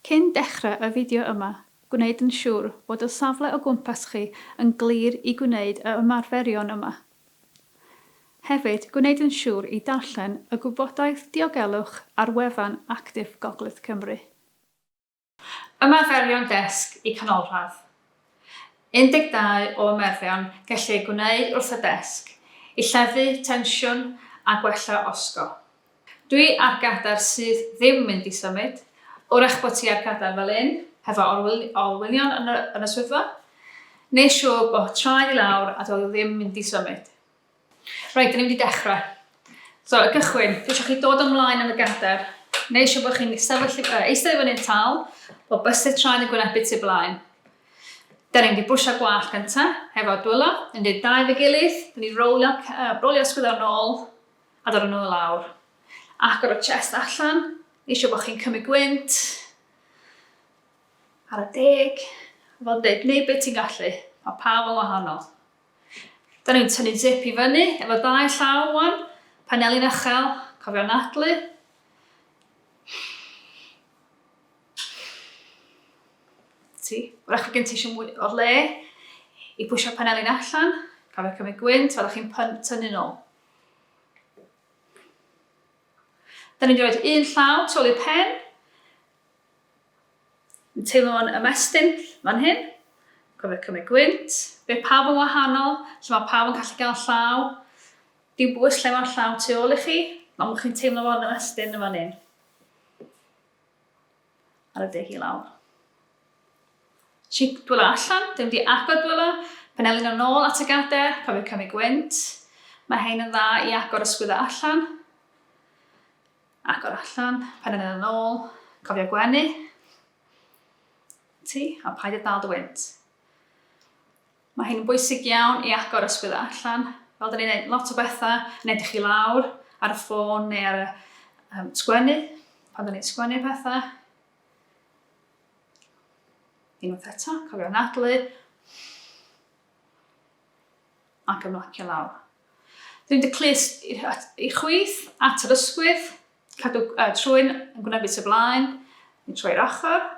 Cyn dechrau y fideo yma, gwneud yn siŵr bod y safle o gwmpas chi yn glir i gwneud y ymarferion yma. Hefyd, gwneud yn siŵr i darllen y gwybodaeth diogelwch ar wefan Actif Gogledd Cymru. Ymarferion Desg y Canolradd 12 o ymarferion gellir eu gwneud wrth y desg i lleddfu tensiwn a gwella osgo. Dwi ar gadair sydd ddim mynd i symud, wrach bod ti ar gadair fel un, hefo olwynion yn y swyddfa, neu siŵr bod traed i lawr a doedd o ddim mynd i symud. Reit, dyn ni'n mynd i dechrau. So, y gychwyn, dwi eisiau chi dod ymlaen yn y gader, neu eisiau bod chi'n sefyll, uh, eistedd i fyny'n tal, o bysydd traed yn gwynebu tu blaen. Dyn ni'n mynd i bwysio gwall gyntaf, hefo dwylo, yn dweud dau fe gilydd, dyn ni'n rowlio, uh, rowlio sgwyddo'n nôl, a dod yn ôl lawr. Agor y chest allan, eisiau bod chi'n cymryd gwynt, ar y deg, fel dweud, neu beth ti'n gallu, mae pawb yn wahanol. Da ni'n tynnu zip i fyny efo dau llaw wan, paneli'n uchel, cofio anadlu. Ti, wrach gen ti eisiau mwy o le i pwysio paneli'n allan, cofio cymryd gwynt, wrach chi'n tynnu nôl. Da ni'n rhoi un llaw tu ôl i'r pen, Yn teimlo fo'n ymestyn fan hyn. Cofio cymryd gwynt. Bydd pawb yn wahanol, lle mae pawb yn gallu cael llaw. Dim bwys lle mae'r llaw tu ôl i chi, ond bod chi'n teimlo fo'n ymestyn yn fan hyn. Ar y deg i lawr. Si'n dwylo allan, dim di agor dwylo, penelin yn ôl at y gader, cofio cymryd gwynt. Mae hein yn dda i agor ysgwyddo allan. Agor allan, pen yn yn ôl, cofio gwenu ti a paid â dal dy wynt. Mae hyn yn bwysig iawn i agor ysgwydd allan. Fel dyn ni'n gwneud lot o bethau, yn edrych i lawr ar y ffôn neu ar y um, sgwennu, pan dyn ni'n sgwennu pethau. Unwaith eto, cofio anadlu. ac ymlacio lawr. Dwi'n dy clust i chwith at yr ysgwydd, cadw uh, trwy'n yn gwneud bit y blaen, yn trwy'r ochr.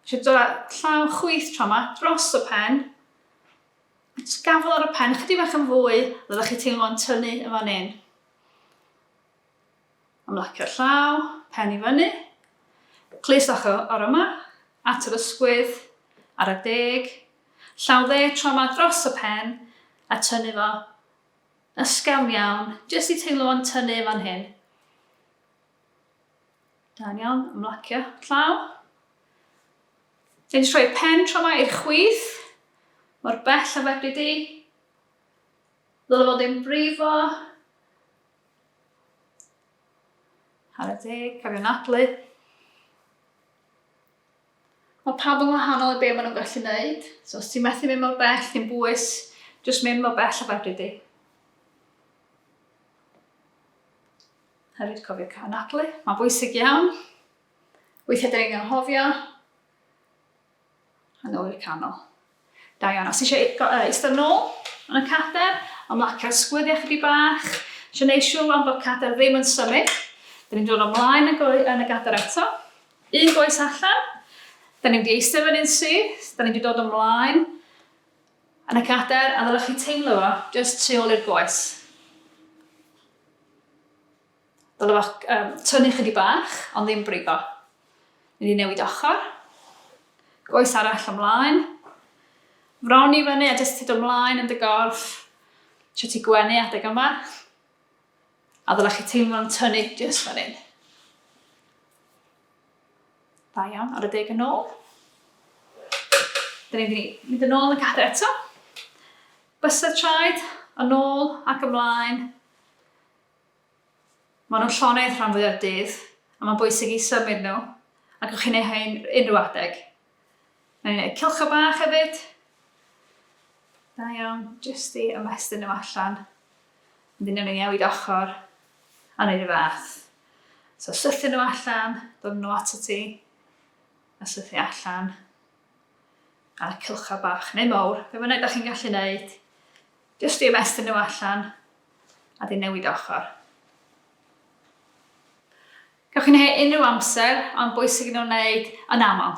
Eisiau dod â llaw chwith tro yma dros y pen. Jyst gafel ar y pen, chydig bach yn fwy, roeddech chi teimlo'n tynnu yn fan hyn. Ymlacio'r llaw, pen i fyny. Clust ochr yma, at yr ysgwydd, ar y deg. Llaw dde tro yma dros y pen a tynnu fo ysgafn iawn, jyst i teimlo fo'n tynnu yn fan hyn. Da'n iawn, ymlacio llaw. Dwi'n rhoi pen tro yma i'r chwith, mor bell a fedri di. Ddylai fod yn brifo, Ar y deg, cofio anadlu. Mae pawb yn wahanol i be maen nhw'n gallu wneud. So os ti'n methu mynd mor bell, ti'n bwys, jyst mynd mor bell a fedri di. Hefyd cofio cael anadlu, mae'n bwysig iawn. Weithiau dyn ni'n anghofio, A nôl i'r canol. Da iawn. Os ti eisiau eistedd nôl yn y cader, ymlaca'r sgwyddiau chydig bach. Eisiau gwneud siŵr rwan bod cader ddim yn symud. Da ni'n dod ymlaen yn y gader eto. Un goes allan. Da ni'n di eistedd fan un syth. Da ni'n di dod ymlaen yn y cader a ddylech chi teimlo fo just tu ôl i'r goes. Dylai fo um, tynnu chydig bach, ond ddim brifo. Mynd i newid ochr. Goes arall ymlaen. Fron i fyny a jyst tyd ymlaen yn dy gorff. Sio ti gwenu adeg yma. A ddylai chi teimlo'n tynnu jyst fan hyn. Da iawn, ar y deg yn ôl. Dyn ni'n mynd yn ôl yn y cadw eto. Bysedd traed, yn ôl ac ymlaen. Maen nhw'n llonydd rhan fwya'r dydd, a mae'n bwysig i symud nhw, a gewch chi wneud hyn unrhyw adeg. Mae'n gwneud cylchau bach hefyd. Da iawn, jyst i ymestyn nhw allan. Ond dyna nhw newid ochr, a wneud y fath. So syllu nhw allan, dod nhw at y ti, a syllu allan. ar y cylchau bach neu mawr, fe fynnag da chi'n gallu neud, jyst i ymestyn nhw allan a di newid ochr. Gawch chi'n hei unrhyw amser, ond bwysig nhw'n wneud yn aml.